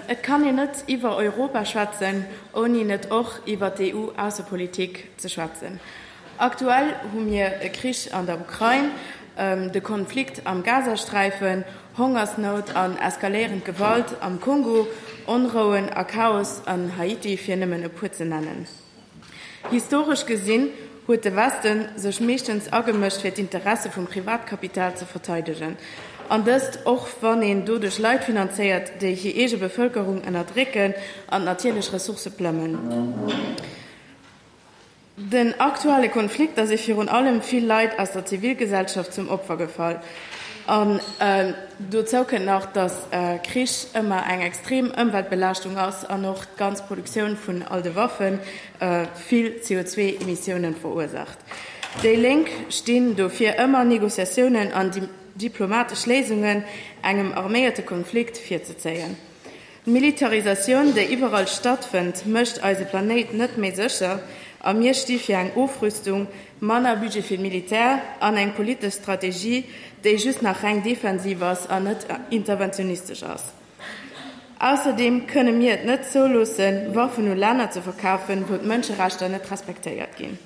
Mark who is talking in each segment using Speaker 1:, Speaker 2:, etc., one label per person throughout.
Speaker 1: Et kann een net iwwer Europa schwätzen, ouni net och iwwer d'EU-Aussepolitik ze schwätzen. Aktuell hu mir e Krich an der Ukrain, de Konflikt am Gazasträifen, Hongersnout an eskaléierend Gewalt am Kongo, Onrouen a Chaos an Haiti, fir nëmmen e puer ze nennen. Historesch gesinn huet de Weste sech meeschtens agemëscht fir d'Interesse vum Privatkapital ze verteidegen, an dëst och wann een doduerch Leit finanzéiert, déi hir eege Bevëlkerung ënnerdrécken an d'natierlech Ressourcë plëmmen. Den aktuelle Konflikt ass ee virun allem vill Leit aus der Zivilgesellschaft zum Opfer gefall. An dozou kënnt nach, datt Krich ëmmer eng extrem Ëmweltbelaaschtung ass an och d'ganz Produktioun vun all de Waffen vill CO2-Emissiounen verursaacht. Déi Lénk stinn dofir ëmmer, Negociatiounen an diplomatesch Léisungen engem arméierte Konflikt virzezéien. D'Militarisatioun, déi iwwerall stattfënnt, mécht eise Planéit net méi sécher a mir sti fir eng Ofrüstung, manner Budget fir d'Militär an eng politesch Strategie, déi just nach reng defensiv ass an net interventionistesch ass. Ausserdeem kënne mir et net zouloossen, Waffen u Länner ze verkafen, wou d'Mënscherechter net respektéiert ginn.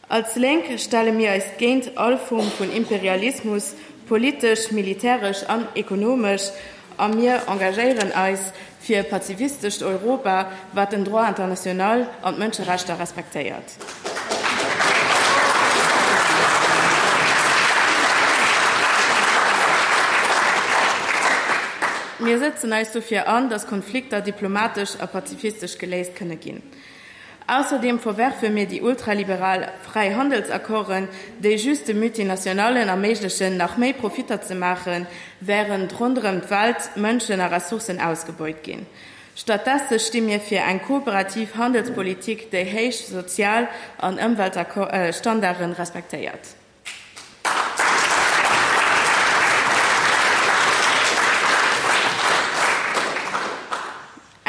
Speaker 1: Als Lénk stelle mir eis géint all Form vun Imperialismus, politesch, militäresch an ekonomesch, a mir engagéieren eis fir e pazifistescht Europa, wat den Droit international an d'Mënscherechter respektéiert. Mir setzen eis dofir an, datt Konflikter diplomatesch a pazifistesch geléist kënne ginn. Ausserdeem verwerfe mir déi ultraliberal Fräihandelsaccorden, déi just de Multinationallen erméiglechen, nach méi Profitter ze maachen, wärend ronderëm d'Welt Mënschen a Ressourcen ausgebeut ginn. Stattdesse sti mir fir eng kooperativ Handelspolitik, déi héich Sozial an Ëmweltstandarde respektéiert.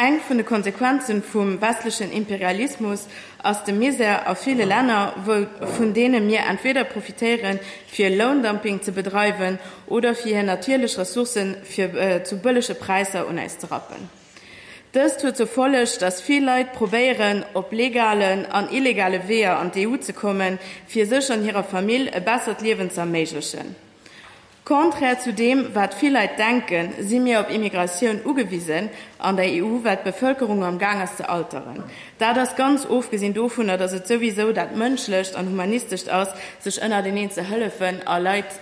Speaker 1: Eng vun de Konsequenzen vum westlechen Imperialismus ass de Misär a ville Länner, vun deene mir entweeder profitéieren, fir Loundumping ze bedreiwen oder fir hir natierlech Ressourcen fir zu bëllege Präisser un äis ze rappen. Dëst huet zur Folleg, datt vill Leit probéieren, op legalen an illegale Weeër an d'EU ze kommen, fir sech an hirer Famill e bessert Liewen ze erméiglechen. Contraire zu deem, wat vill Leit denken, si mir op Immigratioun ugewisen an der EU, well d'Bevëlkerung am Gaang ass ze alteren. Dat ass ganz ofgesinn dovunner, datt et souwisou dat Mënschlescht an Humanistescht ass, sech ënnerteneen ze hëllefen a Leit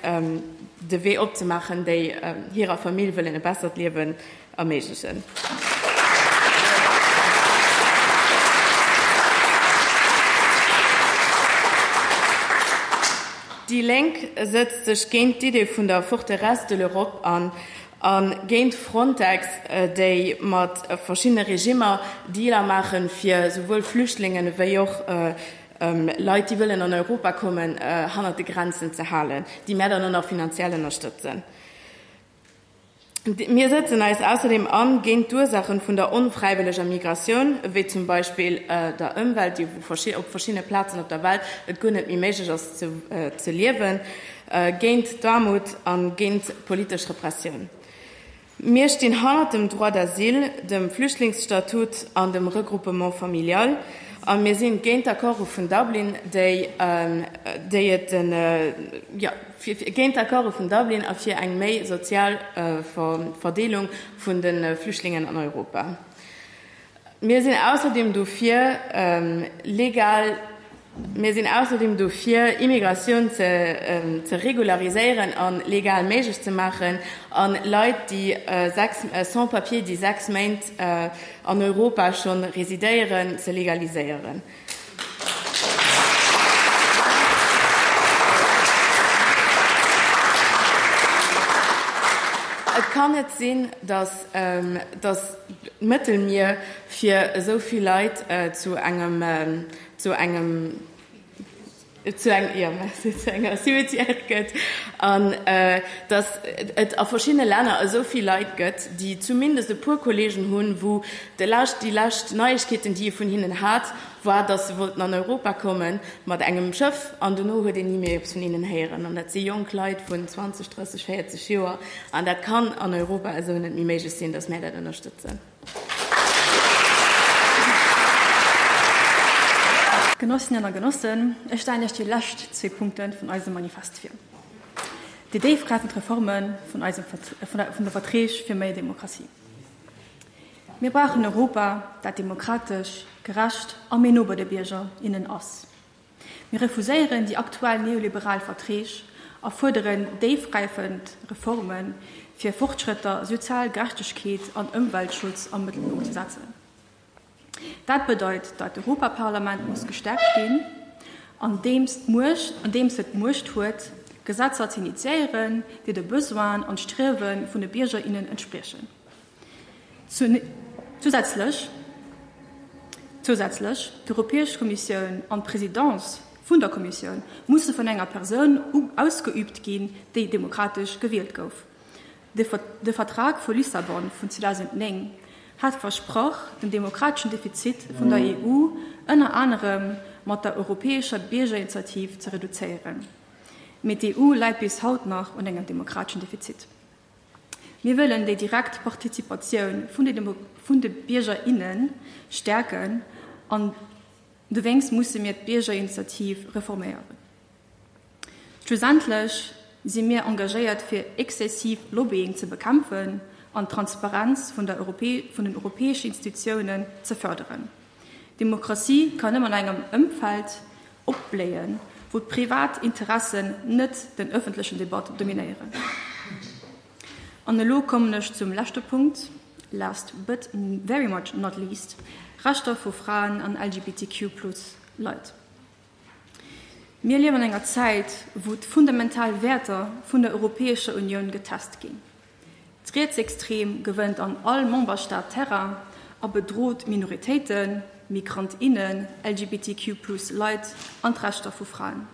Speaker 1: de Wee opzemaachen, déi hirer Famill wëllen e bessert Liewen Amazesen. Déi Lénk sëtzt sech géint d'Idee vun der Forteresse de l'Europe an a géint Frontex, déi mat verschiddene Regimmer Dealer maache fir esouwuel Flüchtlinge wéi och Leit, déi wëllen an Europa kommen, hannert de Grenzen ze halen, déi mär dann och nach finanziell ënnerstëtzen. Mir sëtzen eis ausserdeem an géint d'Ursaachen vun der onfräiwëlleger Migratioun, wéi zum Beispill der Ëmwelt, déi op verschiddene Plazen op der Welt et guer net méi méiglech ass ze liewen, géint d'Aarmut a géint politesch Repressioun. Mir stinn hannert dem Droit d'asile, dem Flüchtlingsstatut an dem Regroupement familial a mir si géint d'Accorde vun Dublin, déi et den. fir géint d'Accorde vun Dublin a fir eng méi sozial Verdeelung vun de Flüchtlingen an Europa. Mir sinn ausserdeem dofir, legal, mir sinn ausserdeem dofir, Immigratioun ze regulariséieren a legal méiglech ze maachen, a Leit, déi sechs, Sans-papiers, déi sechs Méint an Europa scho residéieren, ze legaliséieren. Et kann net sinn, datt d'Mëttelmier fir esou vill Leit zu engem. zu enger Cimetière gëtt an datt et a verschiddene Länner esou vill Leit gëtt, déi zumindest e puer Kollegen hunn, wou déi lescht Neiegkeeten, déi ee vun hinnen hat, war, datt se wollten an Europa komme mat engem Schëff an dono huet een ni méi eppes vun hinnen héieren. An dat si jonk Leit vun 20, 30, 40 Joer an dat kann an Europa esou net méi méiglech sinn, datt mär dat ënnerstëtzen.
Speaker 2: Genossinnen a Genossen, ech stellen lech déi lescht zwee Punkte vun eisem Manifest vir, déi déifgräifend Reforme vun de Verträg fir méi Demokratie. Mir brauchen en Europa, dat demokratesch, gerecht a méi no bei de Bierger, innen ass. Mir refuséieren déi aktuell neoliberal Verträg a fuerderen déifgräifend Reformen, fir Fortschrëtter, sozial Gerechtegkeet an Ëmweltschutz am Mëttelpunkt ze setzen. Dat bedeit, datt d'Europaparlament muss gestäerkt ginn, andeems et d'Muecht huet, Gesetzer ze initiéieren, déi de Besoinen an d'Striewe vun de Bierger, innen entspriechen. Zousätzlech, zousätzlech, d'Europäesch Kommissioun an d'Présidence vun der Kommissioun musse vun enger Persoun ausgeübt ginn, déi demokratesch gewielt gouf. De Vertrag vu Lissabon vun 2009 hat versprach, den demokrateschen Defizit vun der EU ënner anerem mat der europäescher Biergerinitiativ ze reduzéieren. Mee d'EU läit bis haut nach un engem demokrateschen Defizit. Mir wëllen déi direkt Partizipatioun vun de Bierger, innen stäerken an dowéinst musse mir d'Biergerinitiativ reforméieren. Schlussendlech si mir engagéiert fir exzessiv Lobbying ze bekämpfen an d'Transparenz vun den europäeschen Institutiounen ze fërderen. Demokratie kann nëmmen an engem Ëmfeld opbléien, wou d'privat Interessen net den ëffentlechen Debat dominéieren. An elo kommen ech zum leschte Punkt, last but very much not least, Rechter vu Fraen an LGBTQ plus Leit. Mir liewen an enger Zäit, wou d'fundamental Wäerter vun der Europäescher Unioun getest ginn. D'Rietsextrem gewënnt an all Memberstaat Terrain a bedrot Minoritéiten, Migrant, innen, LGBTQ plus Leit an d'Rechter vu Fraen.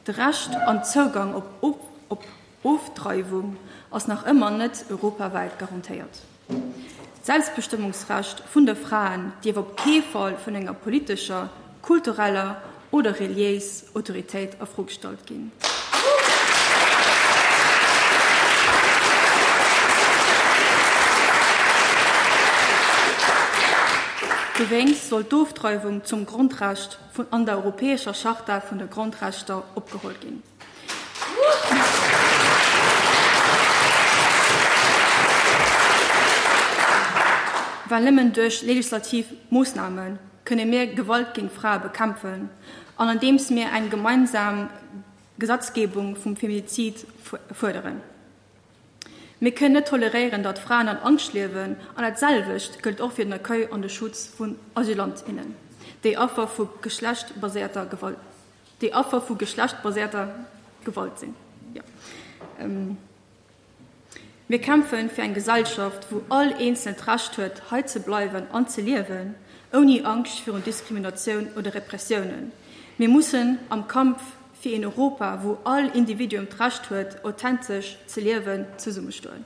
Speaker 2: De Recht an d'Zougang op Ofdreiwung ass nach ëmmer net europawäit garantéiert. D'Selbstbestëmmungsrecht vun de Fraen dierf op kee Fall vun enger politescher, kultureller oder reliéis Autoritéit a Fro gestallt ginn. Dowéinst soll d'Ofdreiwung zum Grondrecht an der Europäescher Charta vun de Grondrechter opgeholl ginn. Well nëmmen duerch legislativ Moossname kënne mir Gewalt géint Frae bekämpfen an andeems mir eng gemeinsam Gesetzgebung vum Feminizid fuerderen. Mir kënnen net toleréieren, datt Fraen an Angscht liewen an dat selwecht gëllt och fir den Accueil an de Schutz vun Asylant, innen, déi Affer vu geschlechtsbaséierter Gewalt. déi Affer vu geschlechtbaséierter Gewalt sinn. Mir kämpfe fir eng Gesellschaft, wou all Eenzelen d'Recht huet, hei ze bleiwen an ze liewen, ouni Angscht virun Diskriminatioun oder Repressiounen. Mir mussen am Kampf fir een Europa, wou all Individuum d'Recht huet, authentesch ze liewen, zesummestoen.